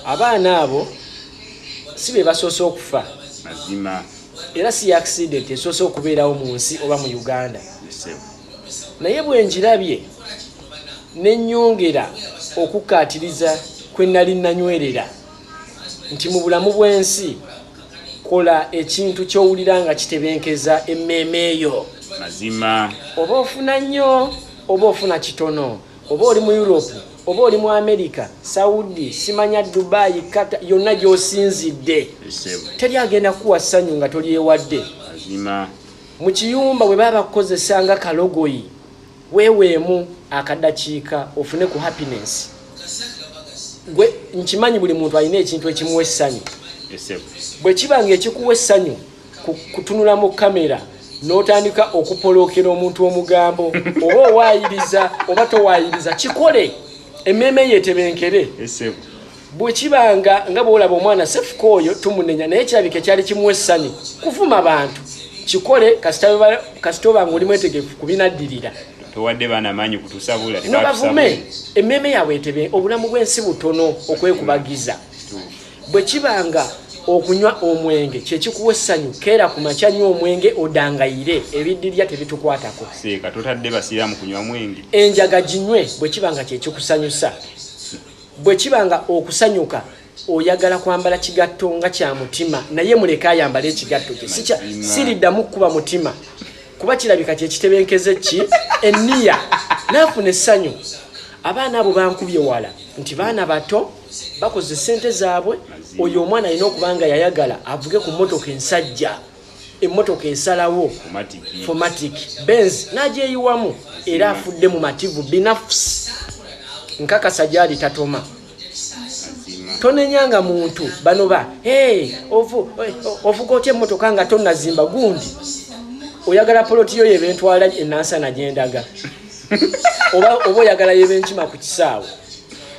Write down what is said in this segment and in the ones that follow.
abaana abo si be basoose okufa mazima era si accident esoose okubeerawo mu nsi oba mu uganda naye bwenjirabye nenyongera okukkaatiriza kwe nali nanywerera nti mu bulamu bw'ensi kola ekintu kyowulira nga kitebenkeza emmeeme eyo mazima oba ofuna nnyo oba ofuna kitono oba oli mu europe oba oli mu america saudi simanya dubai kata yonna gyosinzidde teri agenda kuwa ssanyu nga tolyewadde mu kiyumba bwe baba bakukozesa nga kalogoyi weweemu akadakiika ofune ku happiness gwe nkimanyi buli muntu alina ekintu ekimuwa essanyu bwe kiba nga ekikuwa essanyu kutunula mu kamera n'otandika okupolokera omuntu omugambo oba owaayiriza oba towaayiriza kikole emmeeme yetebenkere bwe kiba nga nga bwolaba omwana sefuka oyo tumunenya naye kirabika ekyali kimu essanyu kuvuma bantu kikole kasita oba nga oli mwetegefu kubinaddirira towadde baana maanyi kutusabula nobavume emmeeme yaabwe etebe obulamu bw'ensi butono okwekubagiza Bwe kiba nga okunywa omwenge kye kikuwa essanyu keera ku makya nywa omwenge odangayire ebiddirya tebitukwatako seeka totadde basiraamu kunywa mwenge enjaga ginywe bwe kiba nga kye kikusanyusa bwe kiba nga okusanyuka oyagala kwambala kigatto nga kya mutima naye muleke ayambala ekigatto kye siriddamu kukuba mutima kuba kirabika kyekitebenkeze ki eniya naafuna essanyu abaana abo bankubye wala nti baana bato bakoze sente zaabwe oyo omwana alina okuba nga yayagala avuge ku motoka ensajja emotoka esalawo fomatic benz nagyeyiwamu era afudde mu mativu binafs nkakasa gyali tatoma tonenyanga muntu bano ba ovuga otya emotoka nga tonazimba gundi oyagala poloti yo yebentwala enansana gyendaga oba oyagala yebenkima ku kisaawe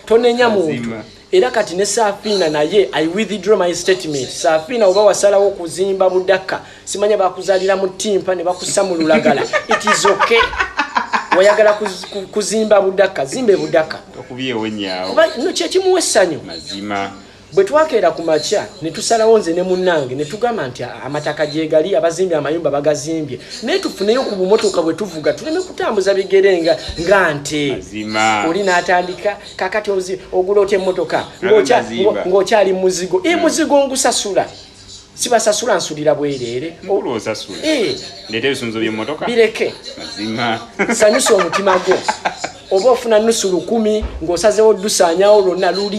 tonenya muntu era kati ne safina naye i withdraw my statement safina oba wasalawo kuzimba budaka simanya bakuzalira mu timpa ne bakusa mu lulagala it is okay wayagala kuzimba budaka zimbe budaka okubiyewo nyawo no kyekimuwa essanyu mazima bwe twakeera ku makya ne tusalawo nze ne munnange ne tugamba nti amataka gyegali abazimbye amayumba bagazimbye naye tufuneyo ku bumotoka bwe tuvuga tuleme kutambuza bigere nga nga nte oli n'atandika kakati ogula otya emmotoka ng'okyali muzigo e muzigo ngusasula sibasasula nsulira bwereere eh. bireke sanyusa omutima gwo oba ofuna nusu lukumi ng'osazewo dusaanyawo lwonna lulye